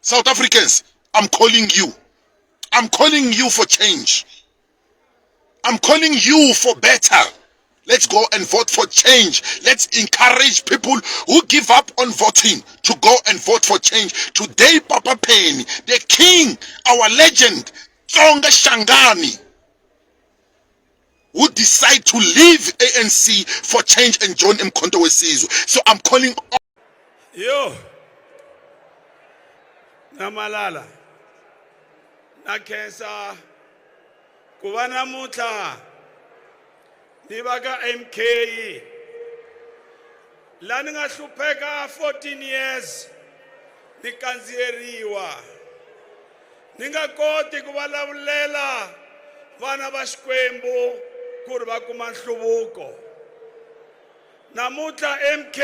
South Africans, I'm calling you. I'm calling you for change. I'm calling you for better. Let's go and vote for change. Let's encourage people who give up on voting to go and vote for change. Today, Papa Penny, the king, our legend, Tsonga Shangani, who decide to leave ANC for change and join Mkhonto Wesizwe. So I'm calling all. Yo. Namalala. Na khensa ku va namuntlha ni va ka MK la ni nga hlupheka 14 years ni kandziyeriwa Ni nga koti ku va lavulela vana va Xikwembu ku ri va kuma nhluvuko. Namuntlha MK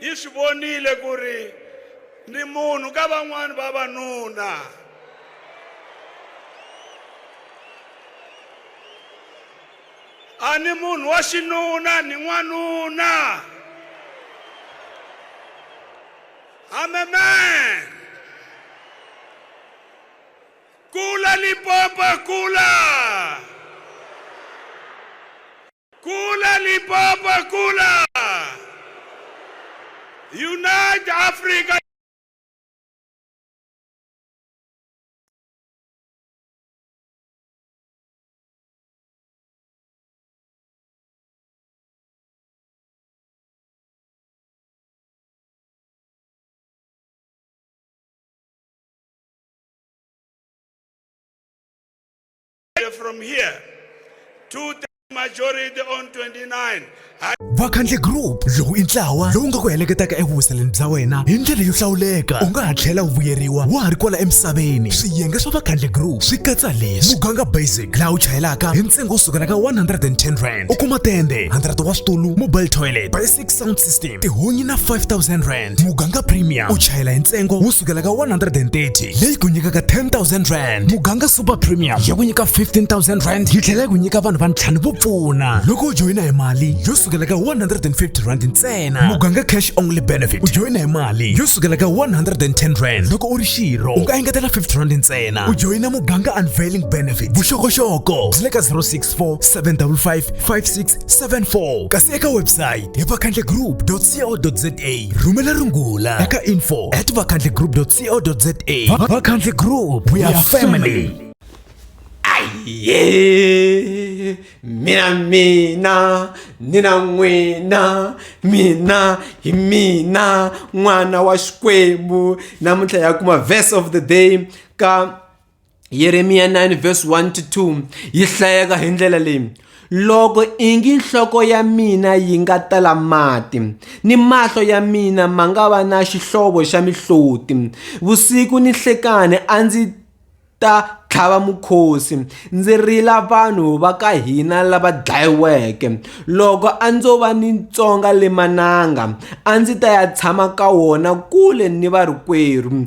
yi swi vonile ku ri ni munhu ka van'wana vavanuna. A ni munhu wa xinuna ni n'wanuna. I'm a man. Kula Limpopo, kula. Kula Limpopo, kula. Unite Africa. from here to the majority on 29 vakhandle group lowu i ntlawa lowu nga ku heleketaka evuwiseleni bya wena hi ndlela yo hlawuleka u nga ha tlhela u vuyeriwa wa ha ri kwala emisaveni swiyenge swa vakhandle group swi katsa leswi muganga basic laha u chayelaka hi ntsengo wo sukela ka 110 rand u kuma tende 100 wa switulu mobile toilet big sound system tihunyi na 5000 rand muganga premium u chayela hi ntsengo wo sukela ka 130 leyi ku nyikaka 10000 rand muganga super premium ya ku nyika 15000 rand yi tlhela yi ku nyika vanhu va ntlhanu vo pfuna loko u joyina hi mali yo sukela ka 150 rand ntsena muganga cash only benefit u joyina hi mali yo sukela ka 110 rand loko u ri xirho u nga engetela 50 rand ntsena u joyina muganga unveiling benefit vuxokoxoko byi le ka 064 755 56 74 kasi eka website hi vakhandlegroup.co.za rhumela rungula eka info at vakhandlegroup.co.za vakhandle group we are family ye mina mina nina n'wina mina hi mina n'wana wa xikwembu namuntlha ya kuma verse of the day ka Yeremiya 9 verse 1 to 2 yi hlayeka hi ndlela leyi loko ingi nhloko ya mina yi nga tala mati ni mahlo ya mina ma nga va na xihlovo xa mihloti vusiku ni hlekani a ndzi ta tlhava mukhosi ndzi rila vanhu va ka hina lava dlayiweke loko a ndzo va ni tsonga le mananga a ndzi ta ya tshama ka wona kule ni varikwerhu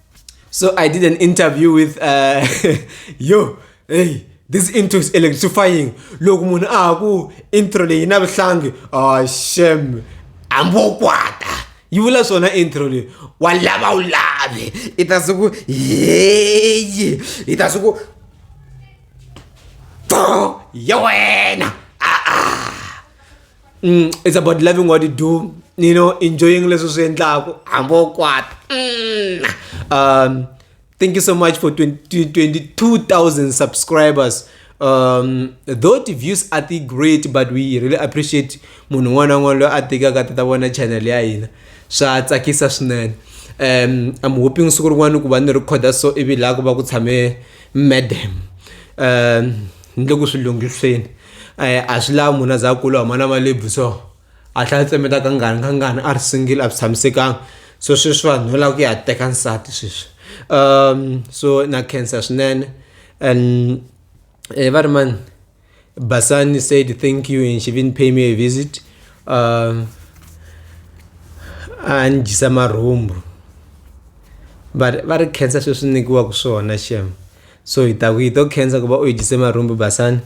So I did an interview with uh, yo, hey, this intro is electrifying. Loko munhu a ku intro leyi na vuhlangi, oh shem, ambokwata. You will also not intro leyi. Wa lava u lave. Itase ku yeye. Itase ku ya wena. Ah ah. mm, it's about loving what you do you know enjoying leswi swi endlaku hambi wo kwata mm. um thank you so much for 22000 subscribers um though the views are the great but we really appreciate munhu un'wana na un'wana loyi a tekaka ta ta vona channel ya hina swa tsakisa swinene um i'm hoping siku rin'wana ku va ni rhikhoda so ivi laha ku va ku tshame madam um ni le ku swi lunghiseni a swi lavi munhu a za a kula a huma na malebvu so a tlhela a tsemeta ka ngani ka ngani a ri single a swi tshamisekanga so sweswi vanhu no lava ku ya teka nsati sweswi so na khensa swinene and va ri mani Basani said thank you and she even pay me a visit a ni dyisa marhumbu va ri va ri khensa sweswi nyikiwaka swona xem. So hi ta ku hi to khensa ku va u hi dyise marhumbu basani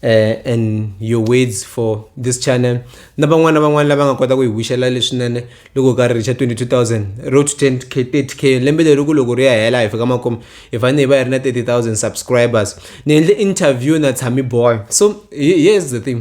eh, and your words for this channel na van'wana van'wana lava nga kota ku hi wixela leswinene loko ka ri richa 22000 road to 10 k 30 k lembe leri ku loko ri ya hela hi fika makumu hi fanele hi va hi ri na 30000 subscribers ni endle interview na tshami boy so he- here's the thing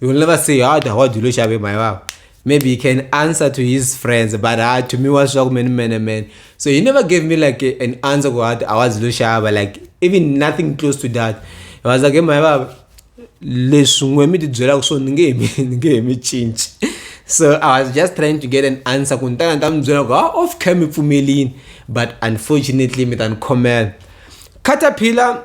You will never say, how do I do Lushabe, my wife? Maybe he can answer to his friends, but uh, to me was shock man, man, man. So he never gave me like a, an answer go out. I was Lushabe, like even nothing close to that. I was like, hey, my wife, leswi n'we mi tibyelaka swona ni nge mi ni nge mi cinci so i was just trying to get an answer ku ni tana ni ta mi byela ku ha ah, off cam mi pfumelini but unfortunately mi ta ni khomela caterpillar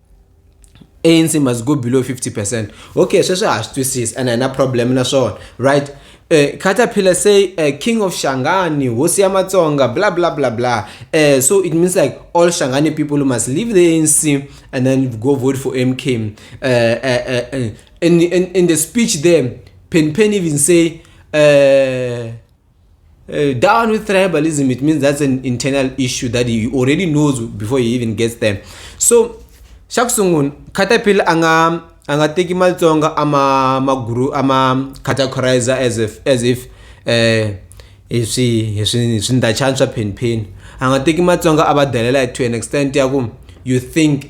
ANC must go below 50% okay sweswi ha swi twisisa and hina problem na swona right uh, caterpillar say uh, king of shangani hosi ya matsonga bla bla bla bla uh, so it means like all shangani people must leave the anc and then go vote for mk uh, uh, uh, in, in, in the speech there pen pen even say uh, Uh, down with tribalism, it means that's an internal issue that he already knows before he even gets there. So, xa ku sungula caterpillar a nga a nga teki matsonga a ma ma guru a ma categorizer as if as if eh hi swi hi swi hi swindachani swa phenpheni a nga teki matsonga a va delela to an extent ya ku you think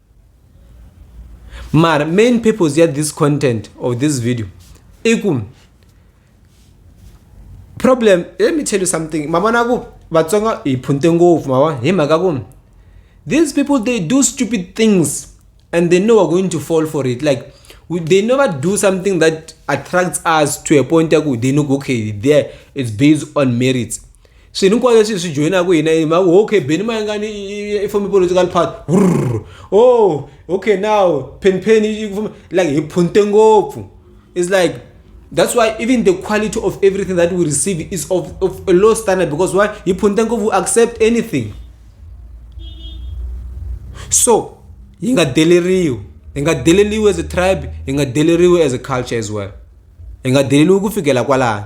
mara main purpose ya this content of this video i ku problem let me tell you something ma vona ku vatsonga hi phunte ngopfu ma vona hi mhaka ku these people they do stupid things and they know we're going to fall for it like we, they never do something that attracts us to a point ya ku they know okay there it's based on merits swilo hinkwaswo leswi hi swi joyinaka hina hi mhaka okay beni mayengani i form political party rr oh okay now pheni pheni like hi phunte ngopfu it's like that's why even the quality of everything that we receive is of, of a low standard because why hi phunte ngopfu accept anything so yi nga deleriwi hi nga deleriwi as a tribe hi nga deleriwi as a culture as well hi nga deleriwi ku fikela kwalani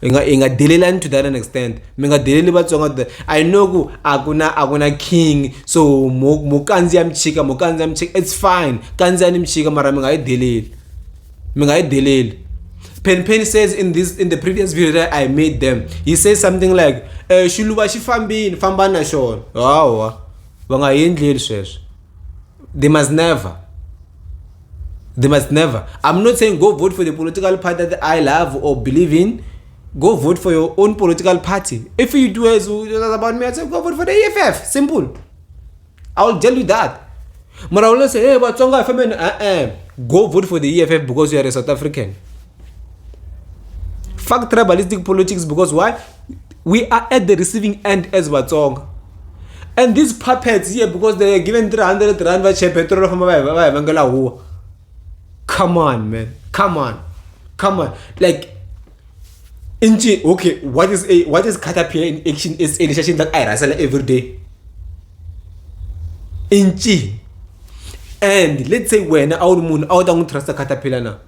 hi nga hi nga delelani to that an extent mi nga deleli vatsonga to that i know ku a ku na a ku na king so mo mo kandziya michika mo kandziya michika it's fine kandziyani michika mara mi nga yi deleli mi nga yi deleli Pen Pen says in this in the previous video that I made them, he says something like, eh, "Shuluva xi fambini, famba na xona." Hawa, va nga endleli sweswo. they must never they must never i'm not saying go vote for the political party that i love or believe in go vote for your own political party if you do as about me i say go vote for the eff simple i will tell you that but i will say hey but tonga family uh -uh. go vote for the eff because you are a south african fuck tribalistic politics because why we are at the receiving end as vatsonga and these puppets here because they are given 300 rand va che petrol famba va va vangela huwa come on man come on come on like inji okay what is a what is caterpillar in action is a decision that i wrestle every day inji and let's say when a wu ri munhu a wu ta n'wi trust caterpillar na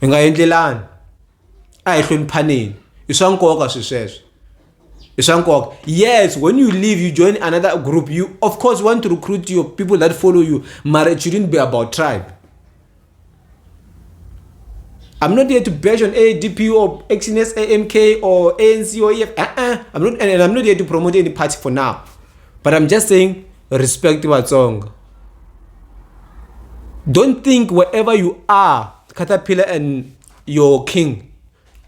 hi nga endlelani a hi hloniphaneni i swa nkoka swi sweswo i swa nkoka yes when you leave you join another group you of course want to recruit your people that follow you mara it shouldn't be about tribe I'm not here to bash on ADP or XNS, AMK or ANC or EF. Uh-uh. I'm not, and I'm not here to promote any party for now. But I'm just saying respect vatsonga don't think wherever you are caterpillar and your king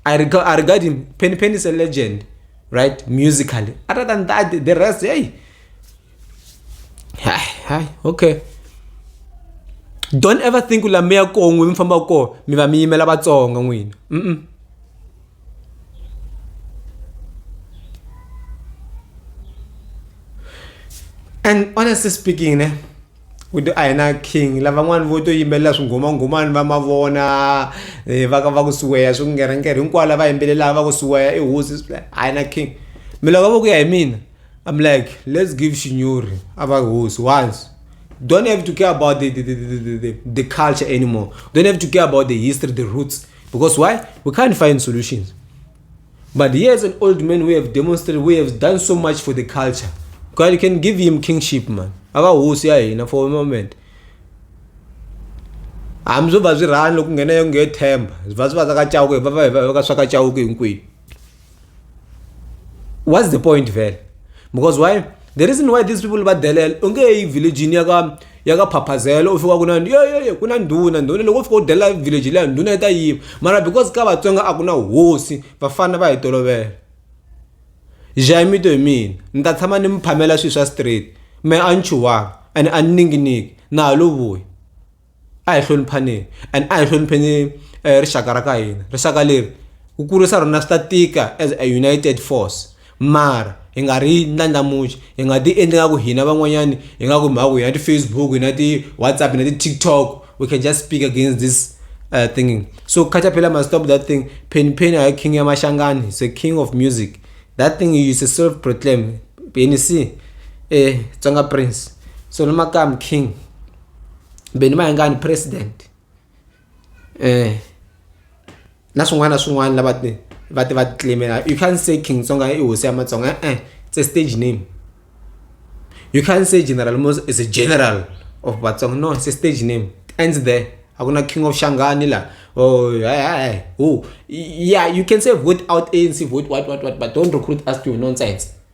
i regard, I regard him penny penny is a legend right musically other than that the rest hey hi hi okay don't ever think ula mi ya kongwe mi famba ko mi va mi yimela vatsonga n'wina mm, -mm. and honestly speaking ne with a hi na king lavan'wani vo to yimbelela swinghomangomani va mavona eh, va va ku siweya swi ku ngerhenkere hinkwavo lava yimbelelaka va ku siweya i hosi a hi na king mi loko va ku ya hi mina i'm like let's give shinyori a va hosi once don't have to care about the, the, the, the, the, the culture anymore don't have to care about the history the roots Because why? We can't find solutions. But he is an old man who have demonstrated, who has done so much for the culture. God, you can give him kingship, man. Akahosi ya hina for a moment. hambi swo va swi rhani loko nghena yo nge themba va swi va sakachawuke va va va ka swakachawuke hinkwenu what's the point vele because why the reason why these people badelela u nge yi villagini ya ka ya ka phaphazela u fika ku na yo yo yo ku na ndhuna ndhuna loko u fika u delela village leya ndhuna yi ta yima mara because ka vatsonga a ku na hosi vafana va hi tolovela jaimito hi mina ni ta tshama ni mi phamela swilo swa straight me a ni chuwanga and a ni ninginiki na ha lo vuya a hi hloniphaneni and a hi hlonipheni rixaka ra ka hina rixaka leri ku kurisa rona swi ta tika as a united force mara hi nga ri ndlandlamuxi hi nga ti endli nga ku hina van'wanyani hi nga ku mhaku hi na ti-facebook hi na ti-whatsapp hi na ti-tiktok we can just speak against this uh, thinking so caterpillar must stop that thing penny penny hayi king ya mashangani he's a king of music that thing is a self proclaim penny c eh tsonga prince so no makam king beni va nga ni president na swin'wana na swin'wana lava ti va ti va ti claim-ela you can't say King Tsonga i hosi ya matsonga e-e it's a stage name you can't say General Muzka is a general of Vatsonga no it's a stage name it ends there a ku na King of Shangani la or hayi who ya you can say vote out ANC vote what what what but don't recruit us to your nonsense.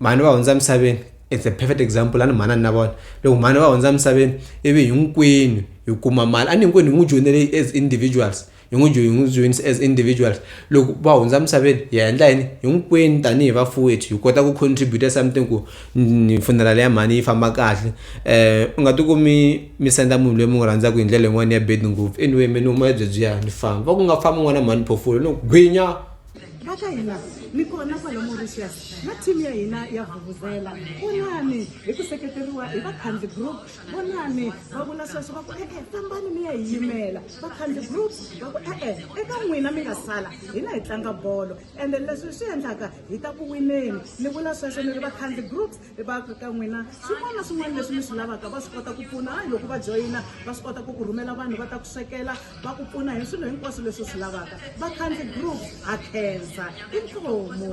mhani va hundza emisaveni it's a perfect example a ni mhani a ni na vona loko mhani va hundza emisaveni ivi hinkwenu hi kuma mali a ni hinkwenu hi n'wi joyinele as individuals hi n'wi hi n'wi joyinisa as individuals loko va hundza emisaveni hi endla yini hinkwenu tanihi vafuwethu hi kota ku contribute something ku funeral ya mhani yi famba kahle um u nga ti kumi mi senda munhu loyi mi n'wi rhandzaka hi ndlela yin'wani ya bed ngopfu anyway mehe ni huma ebyebyiya ni famba va ku nga fambi n'wana mhani phofula no gwinya. va ka hina mi kona kwala mauritius na team ya hina ya vuvuzela vonani hi ku seketeriwa hi vakhandi group vonani va vula sweswo va ku e-e fambani mi ya hi yimela vakhandi group va ku e-e eka n'wina mi nga sala hina hi tlanga bolo ende leswi swi endlaka hi ta ku wineni ni vula sweswo ni ri vakhandi groups hi va ka ka n'wina swin'wana na swin'wana leswi mi swi lavaka va swi kota ku pfuna hayi loko va joyina va swi kota ku ku rhumela vanhu va ta ku swekela va ku pfuna hi swilo hinkwaswo leswi swi lavaka vakhandzi group ha khensa inkomu